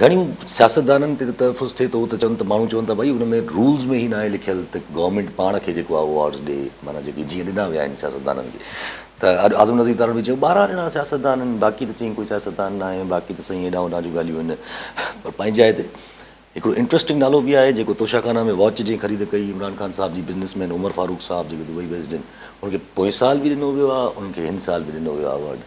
گهڻي سياستدانن تي تحفظ ٿئي ٿو ته چون ته ماڻهو چون ٿا ڀائي ان ۾ رولز ۾ هي ناهي لکيل ته گورنمينٽ پاڻ کي جيڪو آهي اهو ايوارڊز ڏي معنيٰ جيڪي جيئن ڏنا ويا آهن سياستدانن کي ته اڄ اعظم نظير تارڙ به چيو ٻارهن ڄڻا سياستدان آهن باقي ته چيائين ڪوئي سياستدان ناهي باقي ته سائين هيڏانهن هوڏانهن جون ڳالهيون آهن پر پنهنجي جاء تي هڪڙو انٽرسٽنگ نالو به آهي جيڪو توشاخانه ۾ واچ جنهن خريد ڪئي عمران خان صاحب جي بزنس مين عمر فاروق صاحب جيڪي دبئي بيسڊ آهن ان کي پوئين سال به ڏنو ويو آهي انهن کي هن سال به ڏنو ويو آهي ايوارڊ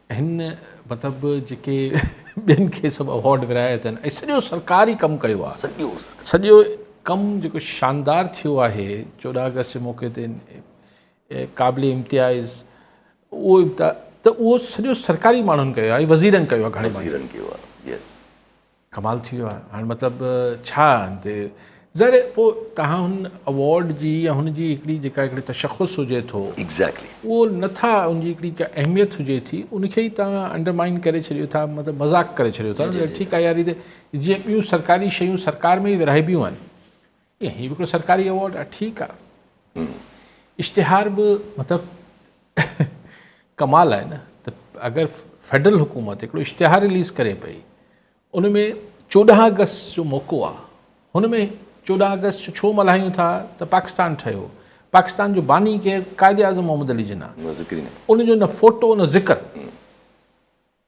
هن مطلب جيڪي ٻين کي سڀ اوارڊ ورهايا اٿن ۽ سڄو سرڪاري ڪم ڪيو آهي سڄو سڄو ڪم جيڪو شاندار ٿيو آهي چوڏهن آگسٽ جي موقعي تي قابل امتياز اهو امتياز ته اهو سڄو سرڪاري ماڻهن ڪيو آهي وزيرن ڪيو آهي گهڻي وزيرن ڪيو آهي يس ڪمال ٿي ويو آهي هاڻي مطلب ڇا هن تي ظاهر آهي پوء توهان هن اوارڊ جي يا هن جي هڪڙي جيڪا هڪڙي تشخص هجي ٿو Exactly. اهو نه ٿا ان جي هڪڙي ڪا اهميت هجي ٿي ان کي ئي توهان انڊرمائن ڪري ڇڏيو ٿا مطلب مذاق ڪري ڇڏيو ٿا ٺيڪ آهي يار هي ته جيئن ٻيون سرڪاري شيون سرڪار ۾ ئي ورهائبيون آهن هي به هڪڙو سرڪاري ايوارڊ آهي ٺيڪ آهي اشتهار به مطلب ڪمال آهي نه ته اگر فيڊرل حڪومت هڪڙو اشتهار رليز ڪري پئي ان ۾ چوڏهن اگست جو موقعو آهي هن ۾ چوڏهن اگست جو ڇو ملهايون ٿا ته پاڪستان ٺهيو پاڪستان جو باني ڪير قائد اعظم محمد علي جناح ان جو نه فوٽو نه ذڪر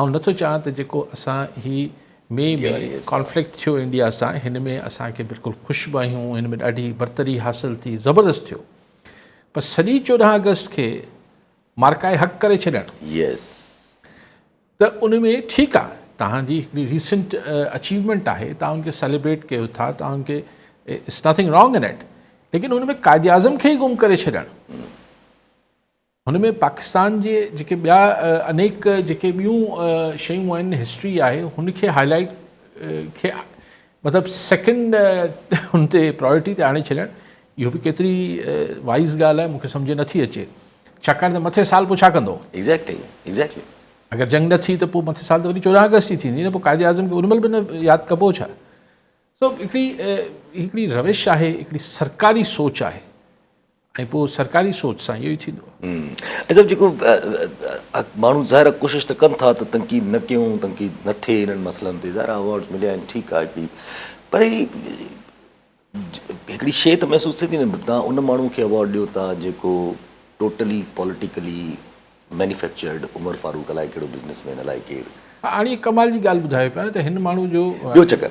آئون نٿو چاهيان ته جيڪو اسان هي مئي ۾ ڪانفلڪٽ ٿيو انڊيا سان هن ۾ اسان کي بلڪل خوش به آهيون هن ۾ ڏاڍي برتري حاصل ٿي زبردست ٿيو پر سڄي چوڏهن آگسٽ کي مارڪائي حق ڪري ڇڏڻ يس ته ان ۾ ٺيڪ آ توهان جي هڪڙي ريسنٽ اچيومينٽ آهي توهان ان کي سيليبريٽ ڪيو ٿا توهان ان کي it's nothing wrong in it ليڪن ان ۾ قائد اعظم کي ئي گم ڪري ڇڏڻ هن ۾ پاڪستان جي جيڪي ٻيا انيڪ جيڪي ٻيون شيون آهن هسٽري آهي هن کي هاء لائٽ کي مطلب سيڪنڊ هن تي پرائرٽي تي آڻي ڇڏڻ اهو به ڪيتري وائز ڳالهه آهي مونکي سمجهه نٿي اچي ڇاڪاڻ ته مٿي سال پوء ڇا ڪندو ايگزيڪٽلي ايگزيڪٽلي اگر جنگ نه ٿي ته پوء مٿي سال ته وري چورهن آگسٽ ئي ٿيندي نه پوء قائد اعظم کي ان مهل به نه ياد ڪبو ڇا سو هڪڙي هڪڙي روش آهي هڪڙي سرڪاري سوچ آهي ۽ پوء سرڪاري سوچ سان اهو ئي ٿيندو. ۽ سڀ جيڪو ماڻهو ظاهر آهي ڪوشش ته ڪن ٿا ته تنقيد نه ڪيون تنقيد نه ٿئي انهن مسئلن تي ظاهر آهي اوارڊز مليا آهن ٺيڪ آهي هڪڙي پر هي هڪڙي شيء ته محسوس ٿئي ٿي نه ڀي توهان ان ماڻهو کي اوارڊ ڏيو ٿا جيڪو totally politically manufactured Umar Farooq الائي ڪهڙو بزنس مين الائي ڪير. هاڻي ڪمال جي ڳالهه ٻڌايو پيا نه ته هن ماڻهو جو. ٻيو چڪر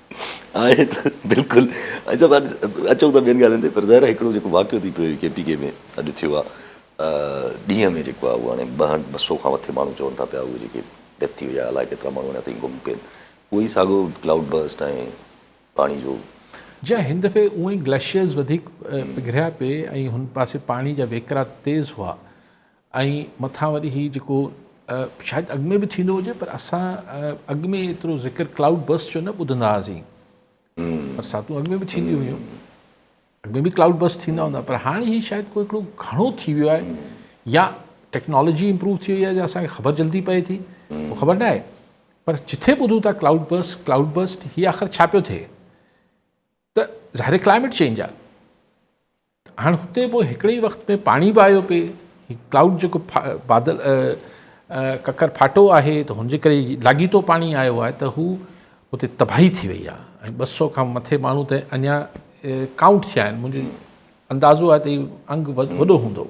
آهي ته بلڪل اچو اچو ته ٻين ڳالهين تي پر ظاهر آهي هڪڙو جيڪو واقعو ٿي پيو ڪي پي ڪي ۾ اڄ ٿيو آهي ڏينهن ۾ جيڪو آهي اهو هاڻي ٻه هنڊ ٻه سو کان مٿي ماڻهو چون ٿا پيا اهي جيڪي ڊيٿ ٿي وئي آهي الائي ڪيترا ماڻهو اڃا تائين گم پين اهو ئي ساڳو ڪلائوڊ برسٽ ۽ پاڻي جو جا هن دفعي اونئي گليشيئرز وڌيڪ پگهريا پي ۽ هن پاسي پاڻي جا وهڪرا تيز هئا ۽ مٿان وري هي جيڪو شايد اڳ ۾ به ٿيندو هجي پر اسان اڳ ۾ ايترو ذڪر ڪلائوڊ برسٽ جو نه ٻڌندا هئاسين برساتون اڳ ۾ به ٿينديون هيون اڳ ۾ به ڪلائوڊ برسٽ ٿيندا هوندا پر هاڻي هي شايد ڪو هڪڙو گهڻو ٿي ويو آهي يا ٽيڪنالاجي امپروو ٿي وئي آهي جو اسان کي خبر جلدي پئي ٿي اهو خبر نه آهي پر جٿي ٻڌو ٿا ڪلائوڊ برسٽ ڪلائوڊ برسٽ هي آخر ڇا پيو ٿئي ته ظاهر ڪلائميٽ چينج آهي هاڻ هتي به هڪڙي ئي وقت ۾ پاڻي به آيو پئي هي ڪلائوڊ جيڪو بادل ڪڪر ڦاٽو آهي ته هنجي ڪري لاڳيتو پاڻي آيو آهي ته هو هتي تباهي ٿي وئي آهي ۽ ٻه سؤ کان مٿي ماڻهو ته اڃا ڪائونٽ ٿيا آهن منهنجي اندازو آهي ته هي انگ وڏو هوندو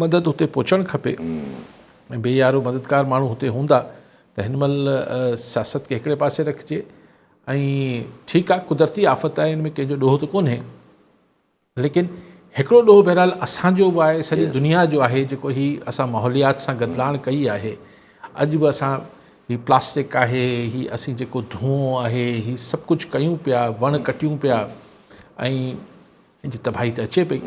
مدد اتي پهچڻ کپي ۽ بي يارو مددگار ماڻهو هتي هوندا ته هن مهل سياست کي هڪڙي پاسي رکجي ۽ ٺيڪ آ قدرتي آفت آهي ان ۾ ڪنهن جو ڏوهه ته ڪونهي ليڪن هڪڙو ڏوهه بهرحال اسان جو به آهي سڄي دنيا جو آهي جيڪو هي اسان ماحوليات سان گدلاڻ ڪئي آهي اڄ به اسان هي پلاسٽڪ آهي هي اسين جيڪو ڌونئون آهي هي سڀ ڪجهه ڪيون پيا وڻ ڪٽيون پيا ۽ ان جي تباهي ته اچي پئي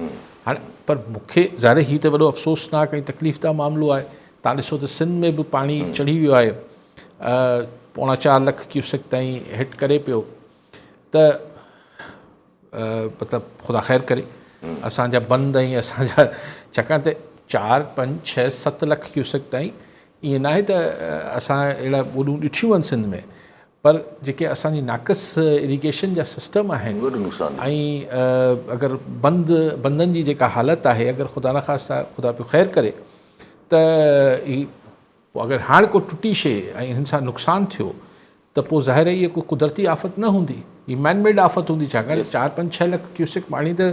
هاڻي پر مون کي ظاهر هي ته وڏو افسوسناڪ ۽ تڪليف ده معاملو آهي تان ڏسو ته سنڌ ۾ به پاڻي چڙهي ويو آهي پوڻا چار لک ڪيوسڪ تائين هٽ ڪري پيو ته مطلب خدا خير ڪري اسان جا بند ۽ اسان جا ڇاڪاڻ ته چار پنج ڇهه ست لک ڪيوسڪ تائين ائين ناهي ته اسان اهڙا ٻوڏون ڏٺيون آهن سنڌ ۾ پر جيڪي اسان جي ناقص اريگيشن جا سسٽم آهن ۽ اگر بند بندن جي جيڪا حالت آهي اگر خدا نه خاصتا خدا پيو خير ڪري ته هي پوء اگر هاڻ ڪو ٽٽي شي ۽ هن سان نقصان ٿيو ته پوء ظاهر هي ڪو قدرتي آفت نه هوندي هي مين ميڊ آفت هوندي ڇاڪاڻ چار پنج ڇهه لک ڪيوسڪ پاڻي ته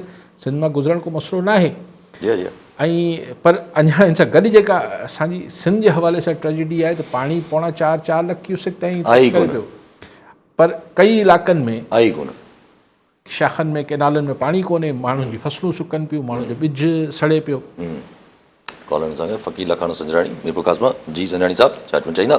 سنڌ مان گذرڻ ڪو مسئلو ناهي ۽ پر اڃا ان سان گڏ جيڪا اسان جي سنڌ جي حوالي سان ٽريجڊي آهي ته پاڻي پوڻا چار چار لک ڪيوسڪ تائين پهچي ويو پر ڪئي علائقن ۾ آهي ڪونه شاخن ۾ ڪينالن ۾ پاڻي ڪونهي ماڻهن جي فصلون سڪن پيون ماڻهن جو ٻج سڙي پيو ڪالن سان فقير لکاڻو سنجراڻي ميرپور قاسما جي سنجراڻي صاحب چاچون چائيندا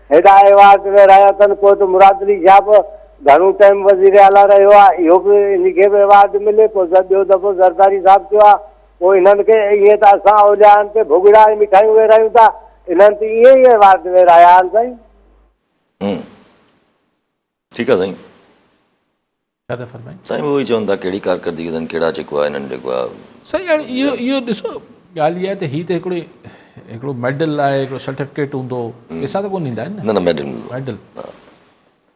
هيڏانهن ايوارڊ ۾ رهيا اٿن ڪوٽ مراد علي شاهه به گهڻو ٽائيم وزير اعليٰ رهيو آهي اهو به ان کي به ايوارڊ ملي پوء ٻيو دفعو زرداري صاحب ٿيو آهي پوء انهن کي ائين ته اسان اوليائن تي ڀڳڙا ۽ مٺايون ويرايون ٿا انهن ته ائين ئي ايوارڊ ويرايا آهن سائين. ٺيڪ آ سائين. ڇا ٿا فرمائين؟ سائين اهو ئي چون ٿا ڪهڙي ڪارڪردگي اٿن ڪهڙا جيڪو آهي انهن جيڪو آهي. سائين هاڻي اهو اهو ڏسو ڳالهه اها آهي ته هي ته هڪڙو هڪڙو ميڊل آهي هڪڙو سرٽيفڪيٽ هوندو پيسا ته ڪونه ڏيندا آهن نه نه ميڊل ميڊل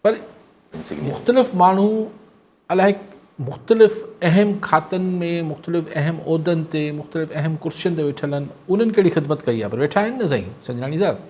پر مختلف ماڻهو الائي مختلف اهم کاتن ۾ مختلف اهم عهدن تي مختلف اهم ڪرسين تي ويٺل آهن انهن ڪهڙي خدمت ڪئي آهي پر ويٺا آهن نه سائين سنجراڻي صاحب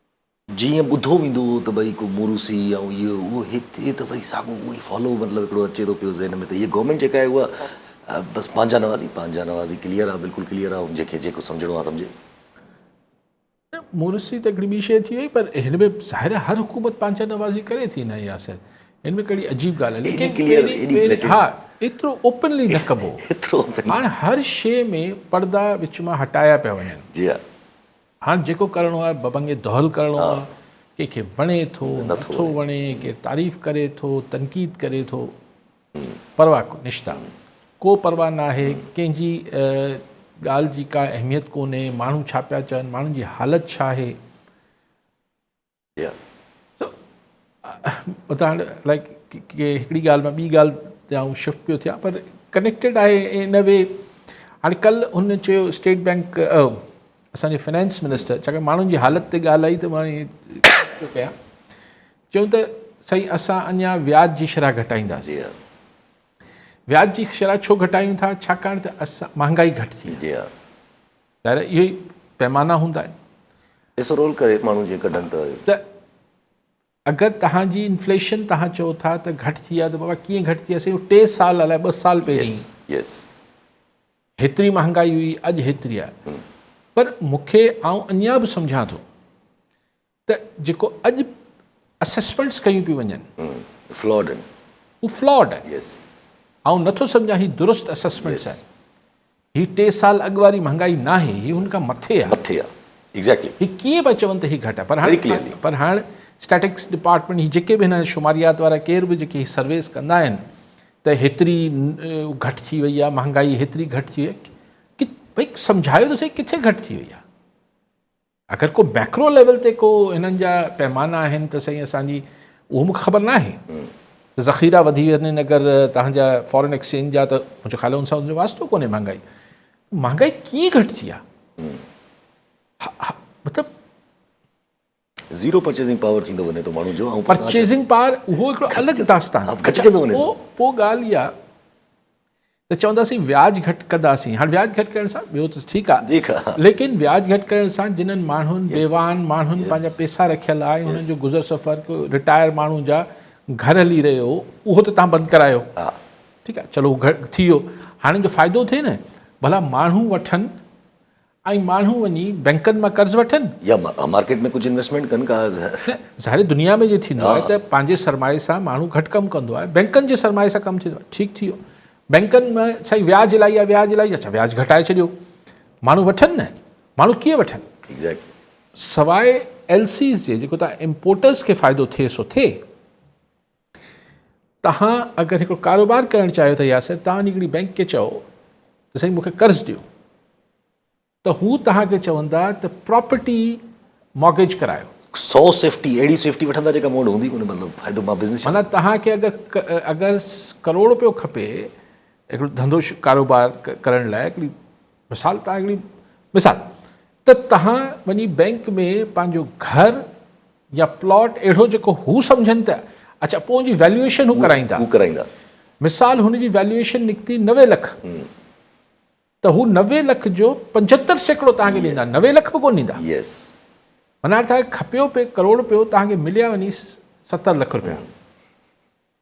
جي ائين ٻڌو ويندو هو ته ڀئي ڪو موروثي يا اهو اهو اهو هتي ته وري ساڳو اهو ئي فالو مطلب هڪڙو اچي ٿو پيو ذهن ۾ ته هيء گورنمينٽ جيڪا آهي اها بس پنهنجا نوازي پنهنجا نوازي ڪليئر آهي بلڪل ڪليئر آهي جنهن کي جيڪو سمجهڻو آهي سمجهي. نه موروثي ته هڪڙي ٻي شيء ٿي وئي پر هن ۾ ظاهر آهي هر حڪومت پنهنجا نوازي ڪري ٿي نه ياسر هن ۾ ڪهڙي عجيب ڳالهه آهي ليڪن پهرين ها ايترو اوپنلي نه ڪبو هاڻ هر شيء ۾ پردا وچ مان هٽايا پيا وڃن جي ها هاڻ جيڪو ڪرڻو آهي ببنگي دهل ڪرڻو آهي ڪنهن کي وڻي ٿو نٿو وڻي ڪير تعريف ڪري ٿو تنقيد ڪري ٿو پرواهه نشتا ڪو پرواهه ناهي ڪنهن جي ڳالهه جي ڪا اهميت ڪونهي ماڻهو ڇا پيا چون ماڻهن جي حالت ڇا آهي اتان لائڪ هڪڙي ڳالهه مان ٻي ڳالهه تي آئون شفٽ پيو ٿيان پر ڪنيڪٽيڊ آهي ان وي هاڻي ڪل هن چيو اسٽيٽ بئنڪ اسانجي فنانس منسٽر ڇاڪاڻ ماڻهن جي حالت تي ڳالهه آئي ته مان پيو ڪيان چيو ته سائين اسان اڃا وياج جي شرح گهٽائينداسين وياج جي شرح ڇو گهٽايون ٿا ڇاڪاڻ ته اسان مهانگائي گهٽ ٿي جي ظاهر آهي اهي ئي پيمانا هوندا آهن. پئسو رول ڪري ماڻهو جي ڪڍن ته. ته اگر توهان جي انفليشن توهان چئو ٿا ته گهٽ ٿي آهي ته بابا ڪيئن گهٽ ٿي آهي سائين اهو ٽي سال الائي ٻه سال پهرين هيتري مهانگائي هئي اڄ هيتري آهي پر مونکي آئون اڃان به سمجهان ٿو ته جيڪو اڄ اسيسمينٽس ڪيون پيون وڃن اهي فلاڊ آهن اهي فلاڊ آهن يس آئون نٿو سمجهان هي درست اسيسمينٽس آهن هي ٽي سال اڳ واري مهانگائي ناهي هي هن کان مٿي آهي مٿي آهي ايگزيڪٽلي هي ڪيئن پيا چون ته هي گهٽ آهي پر هاڻ پر هاڻ اسٽيٽڪس ڊپارٽمينٽ هي جيڪي به هن شماريات وارا ڪير به جيڪي هي سرويز ڪندا آهن ته هيتري گهٽ ٿي وئي آهي مهانگائي هيتري گهٽ ٿي وئي ڀئي سمجهايو ته سهي ڪٿي گهٽ ٿي وئي آهي اگر ڪو ميڪرو ليول تي ڪو هنن جا پيمانا آهن ته سائين اسان جي اهو مون کي خبر ناهي ته ذخيرا وڌي ويا آهن اگر تهان جا فارن ايڪسچينج جا ته منهنجو خيال ان سان ان جو واسطو ڪونهي مهانگائي مهانگائي ڪيئن گهٽجي آهي مطلب زيرو پرچيزنگ پاور ٿيندو وڃي ٿو ماڻهو جو پرچيزنگ پاور اهو هڪڙو الڳ داستان گهٽجندو وڃي ٿو پوء ڳالهه اها ته چونداسين وياج گهٽ ڪنداسين هاڻ وياج گهٽ ڪرڻ سان ٻيو ته ٺيڪ آ ليڪن وياج گهٽ ڪرڻ سان جنھن ماڻھن بيواھن ماڻھن پنھنجا پيسا رکيل آ ۽ انھن جو گذر سفر ڪو رٽائر ماڻھو جا گهر ھلي رھيو اھو ته تھان بند ڪرايو ٺيڪ آ چلو ٿي ويو ھاڻي جو فائدو ٿئي نه ڀلا ماڻھو وٺن ائين ماڻهو وڃي بئنڪن مان قرض وٺن. يا مارڪيٽ ۾ ڪجهه انويسٽمينٽ ڪن ڪا. نه ظاهر دنيا ۾ جيئن ٿيندو آهي ته پنهنجي سرمائي سان ماڻهو گهٽ ڪم ڪندو آهي بئنڪن جي سرمائي سان ڪم ٿيندو آهي ٺيڪ ٿي ويو بئنڪن ۾ سائين وياج الائي آهي وياج الائي اچا وياج گهٽائي ڇڏيو ماڻهو وٺن نه ماڻهو ڪيئن وٺن سواء ايل سيز جي جيڪو تان امپورٽرز کي فائدو ٿئي سو ٿئي. توهان اگر هڪڙو ڪاروبار ڪرڻ چاهيو ٿا ياسر توهان وڃي هڪڙي بئنڪ کي چئو ته سائين مونکي قرض ڏيو ته هو توهان کي چوندا ته پراپرٽي مارگيج ڪرايو سو سيفٽي اهڙي سيفٽي وٺندا جيڪا مون وٽ هوندي ڪونه مطلب فائدو مان بزنس معنيٰ توهان کي اگر اگر ڪروڙ روپيو کپي هڪڙو ڌنڌو ڪاروبار ڪرڻ لاء هڪڙي مثال توهان هڪڙي مثال ته توهان وڃي بئنڪ ۾ پنهنجو گهر يا پلاٽ اهڙو جيڪو هو سمجهن ته اڇا پوء ان جي ويليوئيشن هو ڪرائيندا. هو ڪرائيندا. مثال هن جي ويليوئيشن نڪتي نوي لک ته هو نوي لک جو پنجهتر سيڪڙو توهان کي ڏيندا نوي لک به ڪونه ڏيندا. يس. معنيٰ توهان کي کپيو پئي ڪروڙ رپيو توهان کي مليا وڃي ستر لک رپيا.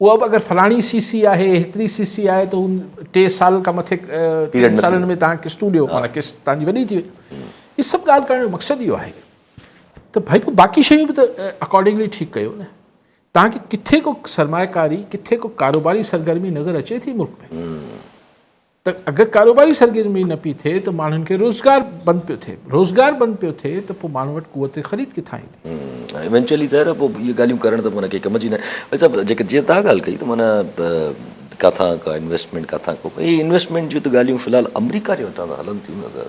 اها به اگر فلاڻي سي سي آهي هيتري سي سي آهي ته ٽي سال کان مٿي ٽن سالن ۾ تهان قسطون ڏيو معنيٰ قسط تهانجي وڏي ٿي وئي هي سڀ ڳالهه ڪرڻ جو مقصد اهو آهي ته ڀائي پو باقي شيون به ته اڪارڊنگلي ٺيڪ ڪيو نه تهان کي ڪٿي ڪو سرمايه ڪاري ڪٿي ڪو ڪاروباري سرگرمي نظر اچي ٿي ملڪ ۾ ته اگر ڪاروباري سرگرمي نه پئي ٿئي ته ماڻهن کي روزگار بند پيو ٿئي، روزگار بند پيو ٿئي ته پوء ماڻهن وٽ قوت خريد ڪٿان ايندي؟ ايونچوئلي ظاهر آهي پوء اهي ڳالهيون ڪرڻ ته معنيٰ ڪنهن ڪم جي نه آهن. ويد صاحب جيڪا جيئن تهان ڳالهه ڪئي ته معنيٰ ڪٿان ڪا انويسٽمينٽ ڪٿان ڪو اهي انويسٽمينٽ جون ته ڳالهيون في الحال آمريڪا جي هتان ته هلن ٿيون نه ته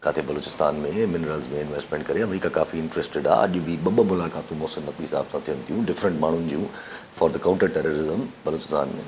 ڪاٿي بلوچستان ۾ منرلز ۾ انويسٽمينٽ ڪري آمريڪا ڪافي انٽريسٽيڊ آهي اڄ به ٻه ٻه ملاقاتون محسن نقوي صاحب سان ٿين ٿيون ڊفرنٽ ماڻهن جون for the counter terrorism Balochistan ۾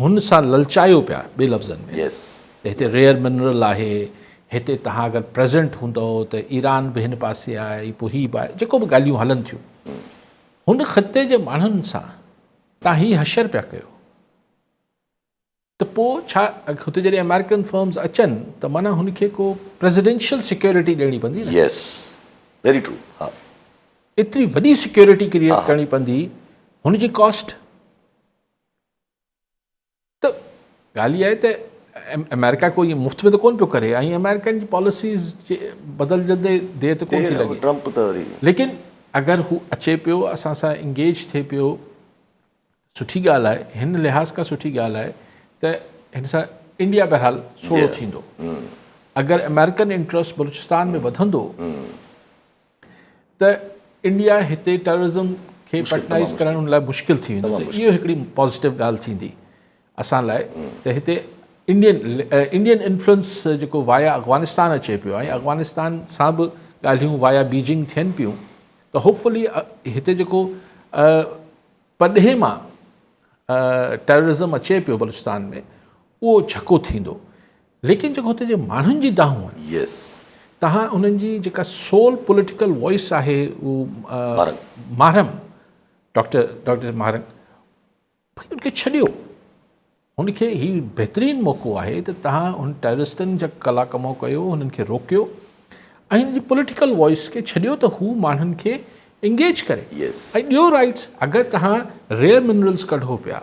هن سان للچايو پيا ٻي لفظن ۾ ته هتي ريئر منرل آهي هتي تهان اگر پريزنٽ هوندئو ته ايران به هن پاسي آهي پوء هي به آهي جيڪو به ڳالهيون هلن ٿيون هن خطي جي ماڻهن سان تهان هي حشر پيا ڪيو ته پوء ڇا هتي جڏهن آمريڪن فرمز اچن ته معنيٰ هن کي ڪو پريزيڊنشل سيڪيورٽي ڏيڻي پوندي نه يس ويري ٽرو ها ايتري وڏي سيڪيورٽي ڪريئيٽ ڪرڻي پوندي هن جي ڪاسٽ ته ڳالهه اها آهي ته آمريڪا ڪو ائين مفت ۾ ته ڪونه پيو ڪري ۽ آمريڪن جي پاليسيز جي بدلجندي دير ته ڪونه ٿي لڳي ٽرمپ ته وري ليڪن اگر هو اچي پيو اسان سان انگيج ٿئي پيو سٺي ڳالهه آهي هن لحاظ کان سٺي ڳالهه آهي ته هن سان انڊيا بهرحال سوڙو ٿيندو اگر آمريڪن انٽرسٽ بلوچستان ۾ وڌندو ته انڊيا هتي ٽيررزم کي پيٽنائيز ڪرڻ ان لاء مشڪل ٿي ويندو ته اهو هڪڙي پازيٽو ڳالهه ٿيندي اسان لاء ته هتي انڊين انڊين انفلوئنس جيڪو وايا افغانستان اچي پيو ۽ افغانستان سان به ڳالهيون وايا بيجنگ ٿين پيون ته هوپفلي هتي جيڪو پرڏيهي مان ٽيررزم اچي پيو بلوچستان ۾ اهو جھڪو ٿيندو ليڪن جيڪو هتي جي ماڻهن جي دانهون آهن. Yes. تهان انهن جي جيڪا سول پوليٽيڪل وائيس آهي هو ماهرنگ ڊاڪٽر ڊاڪٽر ماهرنگ ڀئي ان کي ڇڏيو هن کي هي بهترين موقعو آهي ته تهان هن ٽيررسٽن جا ڪلا ڪمو ڪيو هنن کي روڪيو ۽ هن جي پوليٽيڪل وائيس کي ڇڏيو ته هو ماڻهن کي انگيج ڪري ۽ ڏيو رائيٽس اگر تهان ريئر منرلز ڪڍو پيا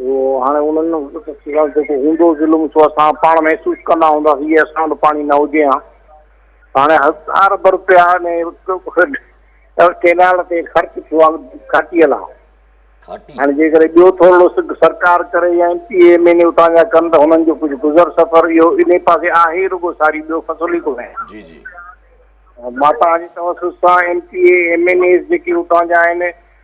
هاڻي انهن خلاف جيڪو هوندو ظلم سو اسان پاڻ محسوس ڪندا هونداسين جي اسان وٽ پاڻي نه هجي ها ته هاڻي هزار ارب روپيا ڪينال تي خرچ ٿيو آهي گهاٽيء لا هاڻي جيڪڏهن ٻيو ٿورڙو سگهه سرڪار ڪري يا M P M N A اتان جا ڪن ته هنن جو ڪجهه گذر سفر اهو انهي پاسي آهي ئي رڳو ساري ٻيو فصل ئي ڪونهي جي جي ماتان جي توسط سان M P M N As جيڪي اتان جا آهن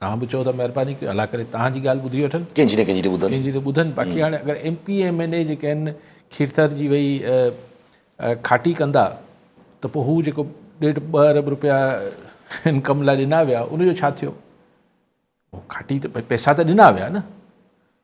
توهان به چئو ته مهرباني ڪيو الله ڪري توهان جي ڳالهه ٻڌي وٺن. ڪنهن جي نه ڪنهن جي ته ٻڌن. ڪنهن جي ته ٻڌن باقي هاڻي اگر M P M N A جيڪي آهن کيرٿر جي وئي کاٽي ڪندا ته پوء هو جيڪو ڏيڍ ٻه ارب روپيا هن ڪم لاء ڏنا ويا ان جو ڇا ٿيو کاٽي ته پئسا ته ڏنا ويا نه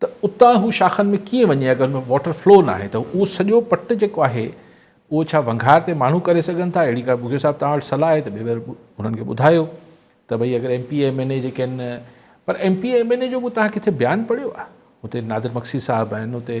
ته اتان هو شاخن ۾ ڪيئن وڃي اگر ان ۾ واٽر فلو ناهي ته اهو سڄو پٽ جيڪو آهي اهو ڇا ونگهار تي ماڻهو ڪري سگهن ٿا اهڙي ڪا ٻگهيو صاحب توهان وٽ صلاح آهي ته ٻيور انهن کي ٻڌايو ته ڀئي اگر M P M N A جيڪي آهن پر M P M N A جو به توهان ڪٿي بيان پڙهيو آهي هتي نادر مگسي صاحب آهن هتي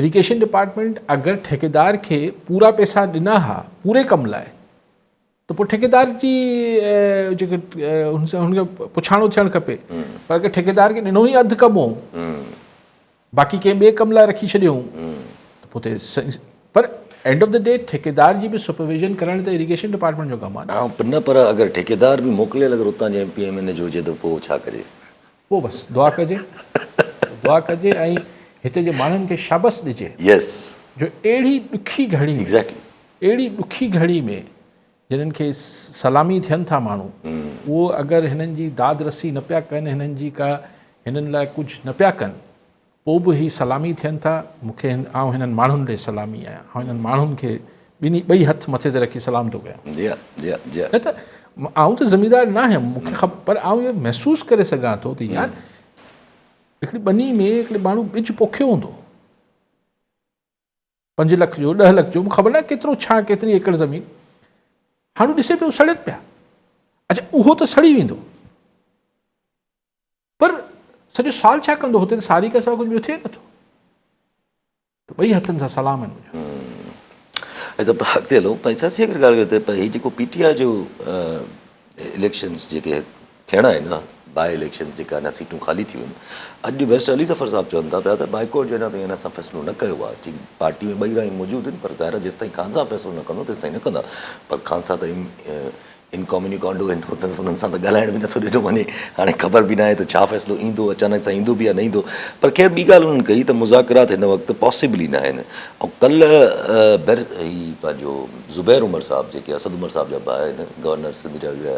اريگيشن ڊپارٽمينٽ اگر ٺيڪيدار کي پورا پيسا ڏنا ها پوري ڪم لاء ته پوء ٺيڪيدار جي جيڪي هن کي پڇاڻو ٿيڻ کپي پر اگر ٺيڪيدار کي ڏنو ئي اڌ ڪم هو باقي ڪنهن ٻئي ڪم لاء رکي ڇڏيو ته پوء پر اینڊ آف دا ڊي ٺيڪيدار جي به سپرويزن ڪرڻ ته ايريگيشن ڊپارٽمنٽ جو ڪم آهي نه پر اگر ٺيڪيدار به موڪليل اگر اتان جو M P M N A جو هجي ته پوء ڇا ڪجي پوء بس دعا ڪجي دعا ڪجي ۽ هتي جي ماڻهن کي شابس ڏجي جو اهڙي ڏکي گهڙي ۾ اهڙي ڏکي گهڙي ۾ جنن کي سلامي ٿين ٿا ماڻهو اهو اگر هنن جي داد رسي نه پيا ڪن هنن جي ڪا هنن لاء ڪجهه نه پيا ڪن پوء به هي سلامي ٿين ٿا مون کي هن آئون هنن ماڻهن ڏي سلامي آهيان آئون هنن ماڻهن کي ٻنهي ٻئي هٿ مٿي تي رکي سلام ٿو ڪيان نه ته آئون ته زميندار نه آهيان مون کي خبر پر آئون اهو محسوس ڪري سگهان ٿو ته يار هڪڙي ٻني ۾ هڪڙي ماڻهو ٻج پوکيو هوندو پنج لک جو ڏهه لک جو مون خبر ناهي ڪيترو ڇا ڪيتري ايڪڙ زمين هاڻو ڏسي پيو سڙين پيا اچا اهو ته سڙي ويندو پر سڄو سال ڇا ڪندو هتي ته ساري کان سواء ڪجهه ٻيو ٿئي نٿو ته ٻئي هٿن سان سلام آهن منهنجا اڳتي هلو سياسي ڳالهه ڪري ته هي جيڪو پي ٽي آء جو اليڪشنز جيڪي ٿيڻا آهن اها باء اليڪشنز جيڪي اڃا سيٽون خالي ٿيون آهن اڄ بئرسٽر علي ظفر صاحب چون ٿا پيا ته بائيڪاٽ جو اڃا تائين اسان فيصلو نه ڪيو آهي چين پارٽي ۾ ٻئي رايون موجود آهن پر ظاهر آهي جيستائين خانزا فيصلو نه ڪندو تيستائين نه ڪندا پر خانزا ته انڪاميونيڪانڊو آهن هو ته انهن سان ته ڳالهائڻ به نٿو ڏنو وڃي هاڻي خبر به ناهي ته ڇا فيصلو ايندو اچانڪ سان ايندو به يا نه ايندو پر خير ٻي ڳالهه انهن ڪئي ته مذاڪرات هن وقت پاسيبل ئي ناهن ۽ ڪلهه بئر هي پنهنجو زبير عمر صاحب جيڪي اسد عمر صاحب جا ڀاء آهن گورنر سنڌ جا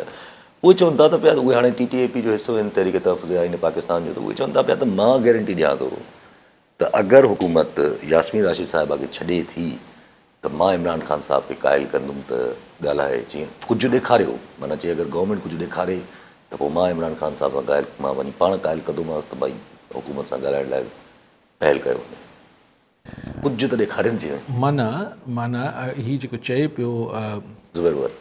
اهي چون ٿا ته پيا ته اهي هاڻي ٽي ٽي اي پي جو حصو آهن تحريڪ تحفظ آئين پاڪستان جو ته اهي چون ٿا پيا ته مان گيرنٽي ڏيان ٿو ته اگر حڪومت ياسمين راشد صاحبه کي ڇڏي ٿي ته مان عمران خان صاحب کي قائل ڪندم ته ڳالهائي چي ڪجهه ڏيکاريو معنيٰ چي اگر گورنمينٽ ڪجهه ڏيکاري ته پوء مان عمران خان صاحب سان قائل مان وڃي پاڻ قائل ڪندومانس ته ڀائي حڪومت سان ڳالهائڻ لاء پهل ڪيو وڃي ڪجهه ته ڏيکارين چي معنيٰ معنيٰ هي جيڪو چئي پيو زبير ور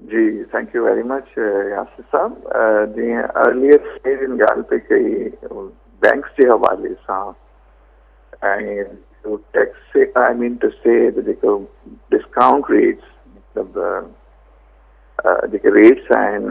جي thank you very much Yasir sahib جيئن ارليئر جن ڳالهه پئي ڪئي بينڪس جي حوالي سان tax I mean to see جيڪو ڊسڪائونٽ ريٽس مطلب جيڪي ريٽس آهن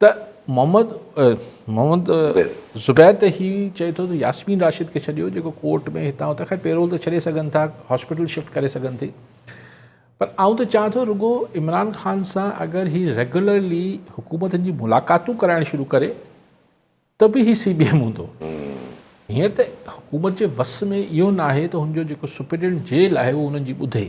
ته محمد محمد زبير ته هي چئي ٿو ته ياسمين راشد کي ڇڏيو جيڪو ڪورٽ ۾ هتان هتان خير پيرول ته ڇڏي سگهن ٿا هاسپيٽل شفٽ ڪري سگهن ٿي پر آئون ته چاهيان ٿو رڳو عمران خان سان اگر هي ريگولرلي حڪومتن جي ملاقاتون ڪرائڻ شروع ڪري ته به هي سي بي ايم هوندو هينئر ته حڪومت جي وس ۾ اهو ناهي ته هن جو جيڪو سپريڊنٽ جيل آهي اهو هنن جي ٻڌي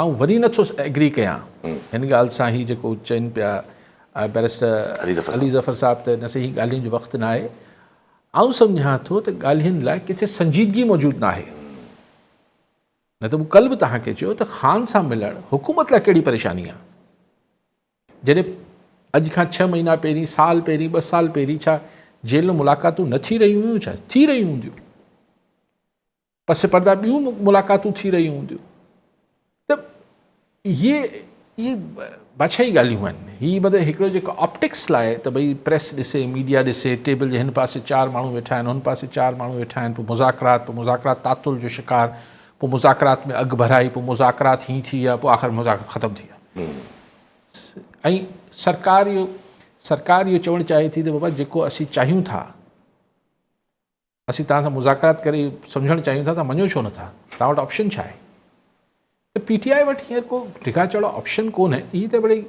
آئون وري نه ٿو ايگري ڪيان هن ڳالهه سان هي جيڪو چين پيا بيرسٽر علي ظفر صاحب ته نه سهي هي ڳالهين جو وقت ناهي آئون سمجهان ٿو ته ڳالهين لاء ڪٿي سنجيدگي موجود ناهي نه ته مون ڪل به توهان کي چيو ته خان سان ملڻ حڪومت لاء ڪهڙي پريشاني آهي جڏهن اڄ کان ڇهه مهينا پهرين سال پهرين ٻه سال پهرين ڇا جيل ۾ ملاقاتون نه ٿي رهيون هيون ڇا ٿي رهيون هونديون پس پرده ٻيون ملاقاتون ٿي رهيون هونديون ته اهي اهي بادشاهي ڳالهيون آهن هي مطلب هڪڙو جيڪو آپٽڪس لاء ته ڀئي پريس ڏسي ميڊيا ڏسي ٽيبل جي هن پاسي چار ماڻهو ويٺا آهن هن پاسي چار ماڻهو ويٺا آهن پوء مذاڪرات پوء مذاڪرات تعطل جو شڪار پوء مذاڪرات ۾ اڳ ڀرائي پوء مذاڪرات هي ٿي ويا پوء آخر مذاڪرات ختم ٿي ويا ۽ سرڪار اهو سرڪار اهو چوڻ چاهي ٿي ته بابا جيڪو اسين چاهيون ٿا اسين توهان سان مذاڪرات ڪري سمجهڻ چاهيون ٿا، توهان مڃو ڇو نه ٿا؟ توهان وٽ آپشن ڇا آهي؟ ته پي ٽي آء وٽ هينئر ڪو ڊگها چڙا آپشن ڪونهي، هي ته مڙئي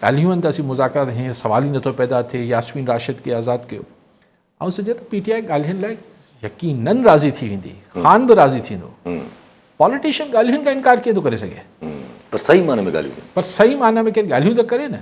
ڳالهيون آهن ته اسين مذاڪرات هينئر سوال ئي نٿو پيدا ٿئي، ياسمين راشد کي آزاد ڪيو. آئون سمجهان ته پي ٽي آء ڳالهين لاء يقينن راضي ٿي ويندي، خان به راضي ٿيندو. پاليٽيشن ڳالهين کان انڪار ڪيئن ٿو ڪري سگهي؟ پر صحيح معنيٰ ۾ ڳالهيون ڪن. پر صحيح معنيٰ ۾ ڪير ڳالهيون ته ڪري نه.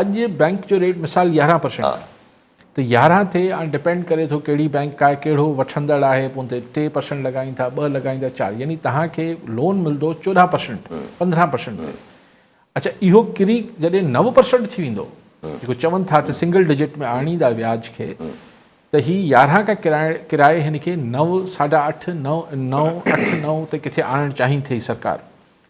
اڄ بئنڪ جو ريٽ مثال يارهن پرسينٽ آهي ته يارهن ٿئي هاڻي ڊپينڊ ڪري ٿو ڪهڙي بئنڪ آهي ڪهڙو وٺندڙ آهي پون تي ٽي پرسينٽ لڳائين ٿا ٻه لڳائين ٿا چار يعني توهان کي لون ملندو چوڏهن پرسينٽ پندرهن پرسينٽ تي اچا اهو ڪري جڏهن نو پرسينٽ ٿي ويندو جيڪو چون ٿا ته سنگل ڊجٽ ۾ آڻيندا وياج کي ته هي يارهن کان ڪرائي ڪرائي هن کي نو ساڍا اٺ نو نو اٺ نو تي ڪٿي آڻڻ چاهين ٿي سرڪار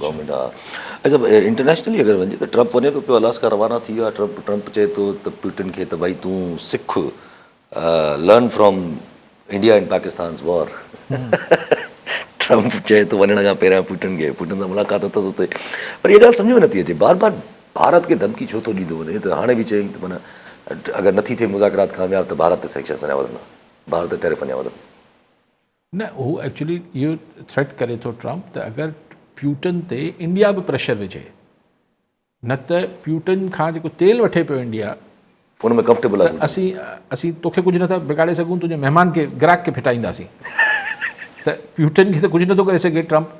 گورنمينٽ ها اچا انٽرنيشنلي اگر ونجي ته ٽرمپ وڃي ٿو پيو الاسڪا روانا ٿي ويو آهي ٽرمپ ٽرمپ چئي ٿو ته پيوٽن کي ته ڀائي تون سک learn from India in Pakistan's war Trump چئي ٿو وڃڻ کان پهريان پيوٽن کي پيوٽن سان ملاقات اٿس اتي پر هي ڳالهه سمجھ ۾ نٿي اچي بار بار ڀارت کي ڌمڪي ڇو ٿو ڏيندو وڃي ته هاڻي به چيائين ته مانا اگر نٿي ٿئي مذاڪرات ڪامياب ته ڀارت تي سينڪشنز اڃا وڌندا ڀارت ٽيرف اڃا وڌندا نه هو ايڪچولي اهو ٿريٽ ڪري ٿو ٽرمپ ته اگر پيوٽن تي انڊيا به پريشر وجهي نه ته پيوٽن کان جيڪو تيل وٺي پيو انڊيا ان ۾ ڪمفرٽيبل آهي اسين اسين توکي ڪجهه نٿا بگاڙي سگهون تنهنجي مهمان کي گراهڪ کي ڦٽائينداسين ته پيوٽن کي ته ڪجهه نٿو ڪري سگهي ٽرمپ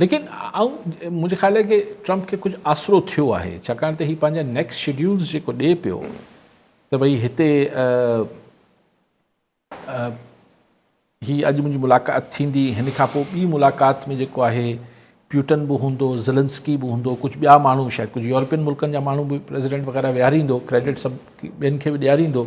ليڪن آئون منهنجي خيال آهي ڪي ٽرمپ کي ڪجهه آسرو ٿيو آهي ڇاڪاڻ ته هي پنهنجا نيڪس شيڊيولز جيڪو ڏي پيو ته ڀئي هتي هي اڄ منهنجي ملاقات ٿيندي هن کان پوء ٻي ملاقات ۾ جيڪو آهي پيوٽن به هوندو زلنسڪي به هوندو ڪجهه ٻيا ماڻهو شايد ڪجهه يورپين ملڪن جا ماڻهو به پريزيڊنٽ وغيره ويهاريندو ڪريڊٽ سڀ ٻين کي به ڏياريندو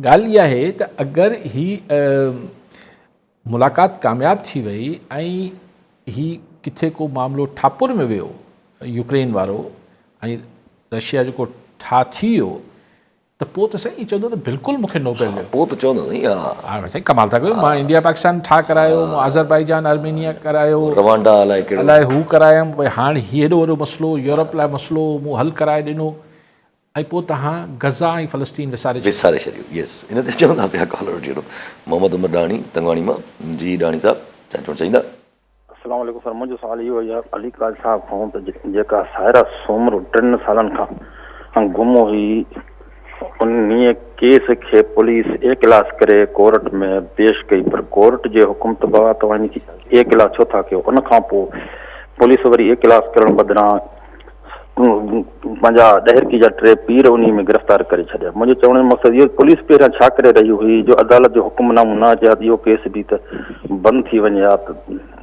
ڳالهه اها آهي ته اگر هي ملاقات ڪامياب ٿي وئي ۽ هي ڪٿي ڪو معاملو ٺاپر ۾ ويو يوڪرين وارو ۽ رشيا جو ڪو ٺاهه ٿي ويو ته پوء ته سائين ائين چوندو ته بلڪل مون کي نوبيل ڏيو. پوء ته چوندو سائين ها. ها سائين ڪمال ٿا ڪيو مان انڊيا پاڪستان ٺاهه ڪرايو مون آذربائيجان آرمينيا ڪرايو روانڊا الائي ڪهڙو الائي هو ڪرايم هاڻ هي هيڏو وڏو مسئلو يورپ لاء مسئلو مون حل ڪرائي ڏنو. ۽ پوء توهان غزه ۽ فلسطين وساري ڇڏيو. وساري ڇڏيو يس ان تي چوندا پيا ڪالر وٺي وٺو محمد عمر ڏاهاڻي تنگواڻي مان جي ڏاهاڻي صاحب ڇا چوڻ چاهيندا. السلام عليڪم سر منهنجو سوال اهو آهي علي قائد صاحب کان ته جيڪا سائره سومرو ٽن سالن کان گم هئي انهيء ڪيس کي پوليس اي ڪلاس ڪري ڪورٽ ۾ پيش ڪئي پر ڪورٽ جي حڪم طبق توهان ان کي اي ڪلاس ڇو ٿا ڪيو ان کان پوء پوليس وري اي ڪلاس ڪرڻ بدران پنهنجا ڏهرڪي جا ٽي پير انهيء ۾ گرفتار ڪري ڇڏيا. منهنجي چوڻ جو مقصد اهو ته پوليس پهريان ڇا ڪري رهي هئي جو عدالت جو حڪم نامو نه اچي ها ته اهو ڪيس به ته بند ٿي وڃي ها ته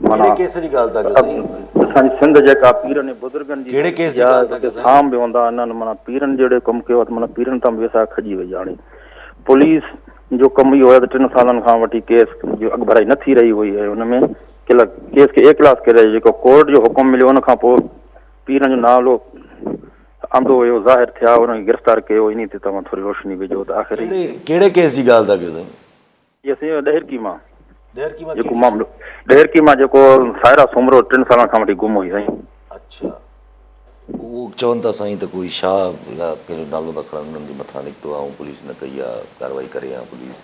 معنيٰ ڪهڙي ڪيس جي ڳالهه ٿا ڪيو سائين؟ اسان جي سنڌ جيڪا پيرن ۽ بزرگن جي ڪهڙي ڪيس جي ڳالهه ٿا ڪيو سائين؟ هام به هوندا آهن انهن معنيٰ پيرن جهڙو ڪم ڪيو ها ته معنيٰ پيرن تان به ويساهه کڄي وئي هاڻي پوليس جو ڪم اهو هو ته ٽن سالن کان وٺي ڪيس جي اڳڀرائي نه ٿي رهي هئي ۽ ان ۾ ڪيس کي اي ڪلاس ڪيو رهيو جيڪو ڪورٽ جو حڪم مليو ان کان پوء پيرن جو نالو آندو ويو ظاهر ٿيا انهن کي گرفتار ڪيو انهي تي توهان ٿوري روشني وجهو ته آخر هي ڪهڙي ڪيس جي ڳالهه ٿا ڪيو سائين جي سائين ڏهرڪي مان ڏهرڪي مان جيڪو معاملو ڏهرڪي مان جيڪو سائرا سومرو ٽن سالن کان وٺي گم هئي سائين اڇا اهو چون ٿا سائين ته ڪوئي شاهه يا ڪنهن جو نالو ٿا کڻن انهن جي مٿان نڪتو آهي ۽ پوليس نه ڪئي آهي ڪارروائي ڪري آهي پوليس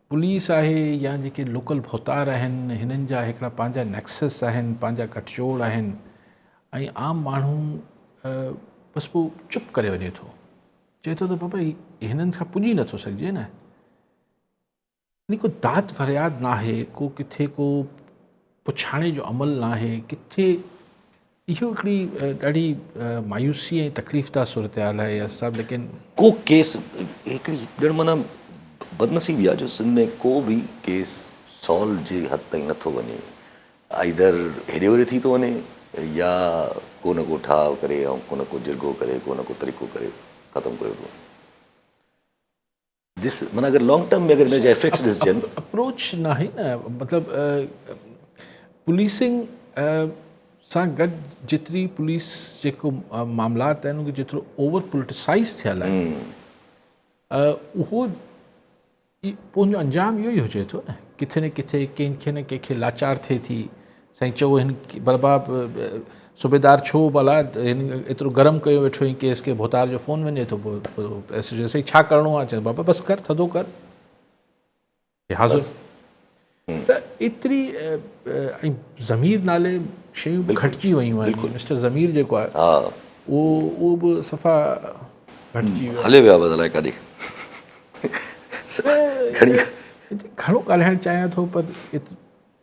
پوليس آهي يا جيڪي لوڪل ڀوتار آهن هنن جا هڪڙا پنهنجا نيڪسس آهن پنهنجا گٺجوڙ آهن ۽ عام ماڻهو بس پوء چپ ڪري وڃي ٿو چئي ٿو ته بابا هنن سان پڄي نٿو سگهجي نه يعني ڪو داد فرياد ناهي ڪو ڪٿي ڪو پڇاڻي جو عمل ناهي ڪٿي اهو هڪڙي ڏاڍي مايوسي ۽ تڪليف ده صورتحال آهي اياز صاحب ليڪن. ڪو ڪيس هڪڙي ڄڻ معنيٰ بدنصيبي آهي جو سنڌ ۾ ڪو به ڪيس سالو جي حد تائين نٿو وڃي آئيدر هيڏي هوري ٿي ٿو وڃي يا ڪو نه ڪو ٺاهه ڪري ڪو نه ڪو جرڳو ڪري ڪو نه ڪو طريقو ڪري ختم ڪريو ٿو وڃي. جس من اگر لانگ ٽرم ۾ اگر ان جا افيڪٽس ڏسجن اپروچ ناهي نه مطلب پوليسنگ سان گڏ جيتري پوليس جيڪو معاملات آهن ان جيترو اوور پوليٽسائز ٿيل آهي اهو پنهنجو انجام اهو ئي هجي ٿو نه ڪٿي نه ڪٿي ڪنهن کي نه ڪنهن کي لاچار ٿئي ٿي سائين چئو هن برباب صوبيدار ڇو بلا هن ايترو گرم ڪيو ويٺو هي ڪيس کي ڀوتار جو فون وڃي ٿو ايس جي سائين ڇا ڪرڻو آ چئي بابا بس ڪر ٿڌو ڪر حاضر ته ايتري ۽ ضمير نالي شيون به گهٽجي ويون آهن مسٽر ضمير جيڪو آهي ها اهو به صفا گهٽجي ويو هلي ويا بس الائي ڪاڏي گهڻو ڳالهائڻ چاهيان ٿو پر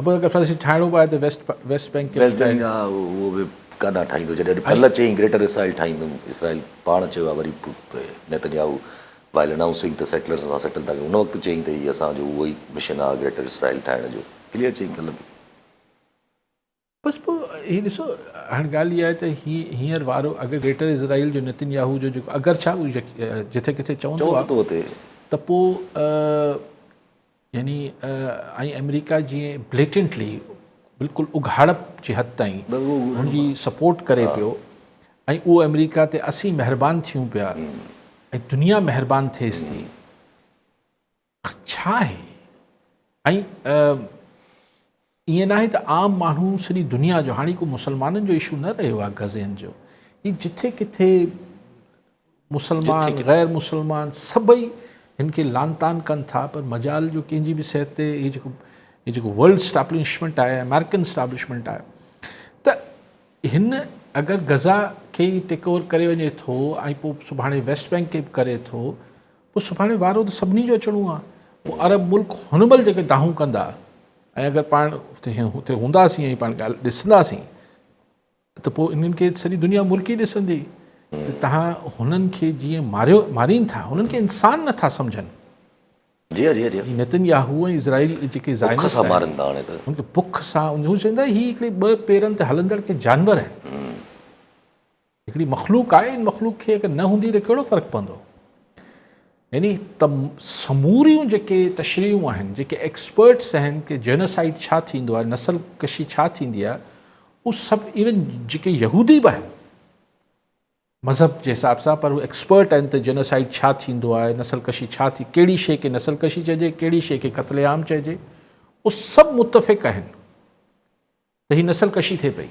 ابو اگر فيڊريشن ٺاهڻو به آهي ته ويسٽ ويسٽ بئنڪ کي ويسٽ بئنڪ ها اهو به ڪاڏانهن ٺاهيندو جڏهن اڄ ڪلهه چيائين گريٽر اسرائيل ٺاهيندم اسرائيل پاڻ چيو آهي وري نيتنياهو وائل انائونسنگ ته سيٽلرز سان سيٽل ٿا ڪيون ان وقت چيائين ته هي اسان جو اهو ئي مشن آهي گريٽر اسرائيل ٺاهڻ جو ڪليئر چيائين ڪلهه به. بس پوء هي ڏسو هاڻي ڳالهه اها آهي ته هي هينئر وارو اگر گريٽر اسرائيل جو نيتنياهو جو جيڪو اگر ڇا جتي ڪٿي چوندو آهي ته پوء يعني ۽ آمريڪا جيئن بليٽنٽلي بلڪل اگهاڙپ جي حد تائين هن جي سپورٽ ڪري پيو ۽ اهو آمريڪا تي اسين مهربان ٿيون پيا ۽ دنيا مهربان ٿيس ٿي ڇا آهي ۽ ائين ناهي ته عام ماڻهو سڄي دنيا جو هاڻي ڪو مسلمانن جو اشو نه رهيو آهي غزين جو هي جٿي ڪٿي مسلمان غير مسلمان سڀئي هن کي لانتان ڪن ٿا پر مجال جو ڪنهن جي به صحت تي هي جيڪو هي جيڪو ورلڊ اسٽابلشمنٽ آهي امريڪن اسٽابلشمنٽ آهي ته هن اگر غزا کي ٽيڪ اوور ڪري وڃي ٿو ۽ پوء سڀاڻي ويسٽ بينڪ کي به ڪري ٿو پوء سڀاڻي وارو ته سڀني جو اچڻو آهي پوء عرب ملڪ هن مل جيڪي دانهون ڪندا ۽ اگر پاڻ اتي هونداسين ۽ پاڻ ڳالهه ڏسنداسين ته پوء انهن کي سڄي دنيا مرڪي ڏسندي ته تهان هنن کي جيئن ماريو مارين ٿا هنن کي انسان نه ٿا سمجهن. جي جي جي. هي نتن ياهو ۽ اسرائيل جيڪي زائنسٽ آهن هن کي بک سان هو چوندا هي هڪڙي ٻه پيرن تي هلندڙ ڪي جانور آهن. هڪڙي مخلوق آهي ان مخلوق کي اگر نه هوندي ته ڪهڙو فرق پوندو يعني ته سموريون جيڪي تشريحون آهن جيڪي ايڪسپرٽس آهن ڪي جينوسائيڊ ڇا ٿيندو آهي نسل ڪشي ڇا ٿيندي آهي اهو سڀ ايون جيڪي يهودي به آهن مذهب جي حساب سان پر ايڪسپرٽ آهن ته جينوسائيڊ ڇا ٿيندو آهي نسل ڪشي ڇا ٿي کي شيء کي نسل ڪشي چئجي کي شيء کي قتل عام چئجي اهو سڀ متفق آهن ته هي نسل ڪشي ٿئي پئي